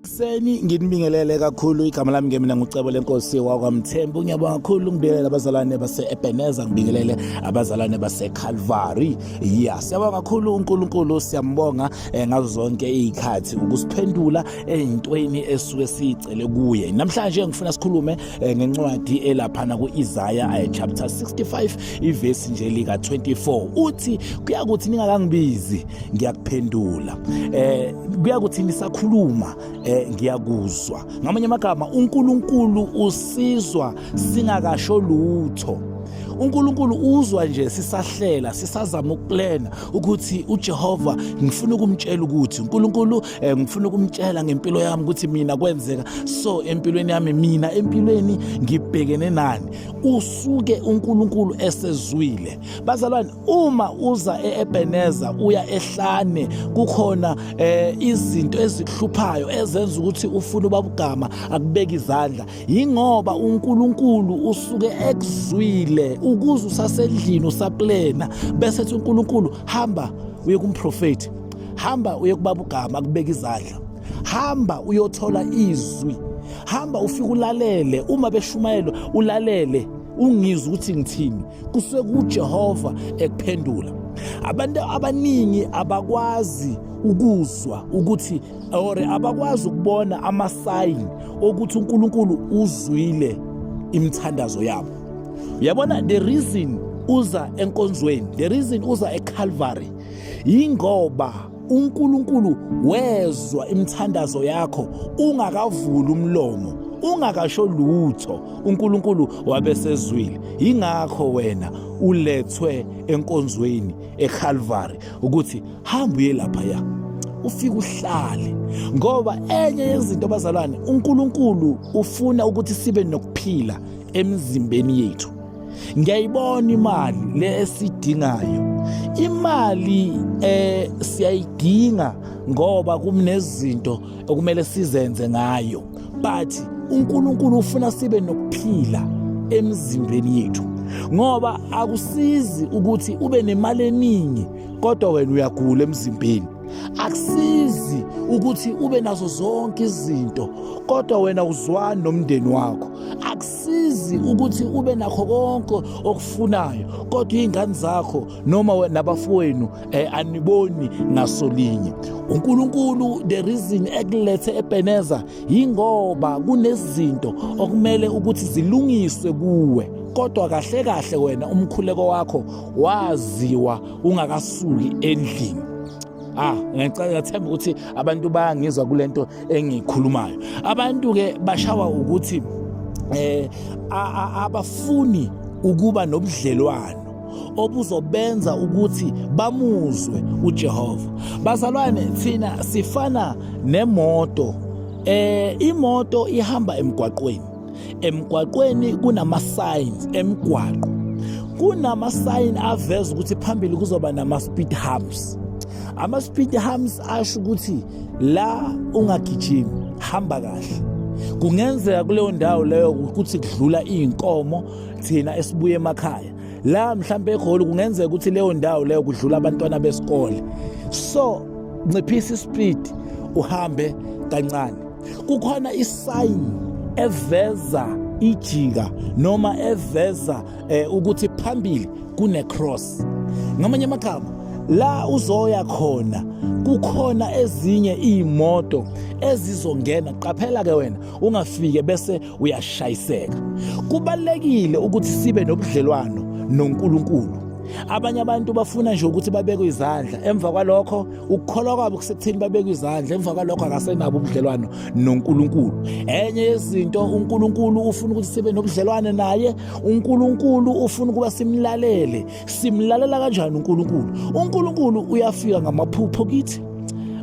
Kuseni nginibingelele kakhulu igama lami ngemina ngucebo lenkosi wakwamthembu ngiyabonga kakhulu ngibingelele abazalwane base-ebeneza ngibingelele abazalwane base-calvary ya siyabonga kakhulu unkulunkulu siyambonga eh, ngazo zonke iy'khathi ukusiphendula ey'ntweni esuke siyicele kuye namhlanje ngifuna sikhulume eh, ngencwadi elaphana ku-isaya eh, chapter 65 ivesi nje lika 24 uthi kuyakuthi ningakangibizi ngiyakuphendula eh kuyakuthi nisakhuluma eh ngiyakuzwa ngamanye amagama uNkulunkulu usizwa singakasho lutho uNkulunkulu uzwa nje sisahlela sisazama ukuplana ukuthi uJehova ngifuna ukumtshela ukuthi uNkulunkulu eh, ngifuna ukumtshela ngempilo yami ukuthi mina kwenzeka so empilweni yami mina empilweni ngibhekene nani usuke uNkulunkulu esezwile bazalwane uma uza eEbeneza uya ehlane kukhona eh, izinto ezikuhluphayo ezenza ukuthi ufune ubabugama akubeka izandla yingoba uNkulunkulu usuke ekuzwile ukuze usasendlini usaplena bese ethi uNkulunkulu hamba uye kumprofeti hamba uye kubabugama akubeka izandla hamba uyothola izwi hamba ufike ulalele uma beshumayelwa ulalele ungizwe ukuthi ngithini kusuke kujehova ekuphendula abantu abaningi abakwazi ukuzwa ukuthi or abakwazi ukubona amasayini okuthi uNkulunkulu uzwile imithandazo yabo uyabona the reason uza enkonzweni the reason uza eCalvary ingoba uNkulunkulu wezwa imithandazo yakho ungakavuli umlomo ungakasho lutho uNkulunkulu wabesezwile ingakho wena ulethwe enkonzweni eCalvary ukuthi hamba uye lapha ya ufike uhlale ngoba enye yezinto bazalwane uNkulunkulu ufuna ukuthi sibe nokuphila emzimbeni yethu ngiyayibona imali le esidingayo imali eh siyayidinga ngoba kumnezinto okumele sizenze ngayo but uNkulunkulu ufuna sibe nokuphila emzimbeni yethu ngoba akusizi ukuthi ube nemali eningi kodwa wena uyagula emzimbeni akusizi ukuthi ube nazo zonke izinto kodwa wena uzwani nomndeni wakho sizi ukuthi ube nakho konke okufunayo kodwa izingane zakho noma nabafowenu eh, aniboni ngasolinye uNkulunkulu the reason ekulethe eBeneza ingoba kunezinto okumele ukuthi zilungiswe kuwe kodwa kahle kahle wena umkhuleko wakho waziwa ungakasuki endlini Ah, ngicela ngathemba ukuthi abantu bayangizwa kulento engikhulumayo. Abantu ke bashawa ukuthi eh abafuni ukuba nobudlelwano obuzobenza ukuthi bamuzwe uJehova. Bazalwane thina sifana nemoto eh imoto ihamba emgwaqweni emgwaqweni kunama-signs emgwaqo kunama-sign aveza ukuthi phambili kuzoba nama-speed humps ama-speed humps asho ukuthi la ungagijimi hamba kahle kungenzeka kuleyo ndawo leyo ukuthi kudlula iy'nkomo thina esibuye emakhaya la mhlawumbe egoli kungenzeka ukuthi leyo ndawo leyo kudlula abantwana besikole so nciphisa ispeed uhambe kancane kukhona isayini eveza ijika noma eveza eh, ukuthi phambili kune cross ngamanye amagama la uzoya khona kukhona ezinye imoto ezizongena qaphela ke wena ungafike bese uyashayiseka kubalekile ukuthi sibe nobudlelwano noNkulunkulu abanye abantu bafuna nje ukuthi babekwe izandla emva kwalokho ukukholwa kwabo kusekutheni babeke izandla emva kwalokho akasenabo ubudlelwano noNkulunkulu enye yezinto uNkulunkulu ufuna ukuthi sibe nobudlelwane naye uNkulunkulu ufuna ukuba simlalele simlalela kanjani uNkulunkulu uNkulunkulu uyafika ngamaphupho kithi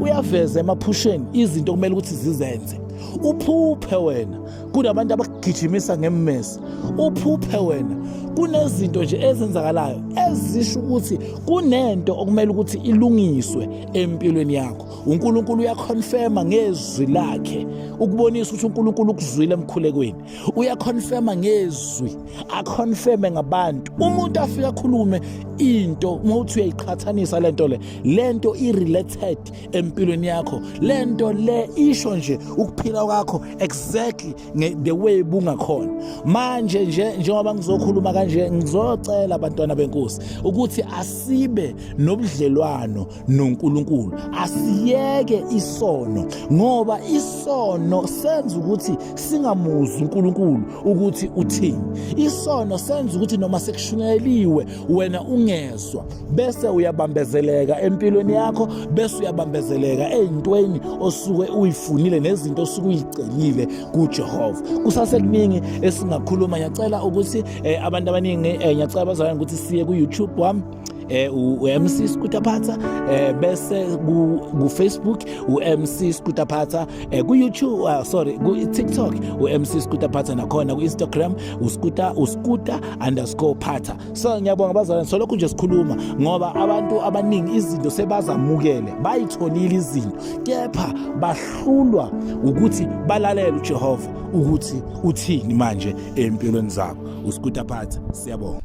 uyaveza emaphusheni izinto kumele ukuthi zizenze uphuphe wena kunabantu abakugijimisa ngemmese uphuphe wena kunezinto nje ezenzakalayo ezisho ukuthi kunento okumele ukuthi ilungiswe empilweni yakho uNkulunkulu uyaconfirma ngezwi lakhe ukubonisa ukuthi uNkulunkulu ukuzwile emkhulekweni uyaconfirma ngezwi aconfirme ngabantu umuntu afika akhulume into uma uthi uyayiqhathanisa lento le lento irelated empilweni yakho lento le isho nje ukuphila kwakho exactly the way bungakhona manje nje njengoba ngizokhuluma kanje ngizocela abantwana benkosi ukuthi asibe nobudlelwano noNkulunkulu asiyeke isono ngoba isono senza ukuthi singamuzi uNkulunkulu ukuthi uthini isono senza ukuthi noma sekushuneliwe wena ungezwa bese uyabambezeleka empilweni yakho bese uyabambezeleka eyintweni osuke uyifunile nezinto osuke uyicelile kuJehova kusasekuningi esingakhuluma ngiyacela ukuthi eh, abantu abaningi eh, ngiyacela bazalwane ukuthi siye ku YouTube wami eh uMC Skutaphatha eh bese ku Facebook uMC Skutaphatha eh ku YouTube uh, sorry ku TikTok uMC Skutaphatha nakhona ku Instagram uskuta uskuta_phatha so ngiyabonga bazalwane solokhu nje sikhuluma ngoba abantu abaningi izinto sebazamukele bayitholile izinto kepha bahlulwa ukuthi balalele uJehova ukuthi uthini manje empilweni zabo usikuta phatha siyabonga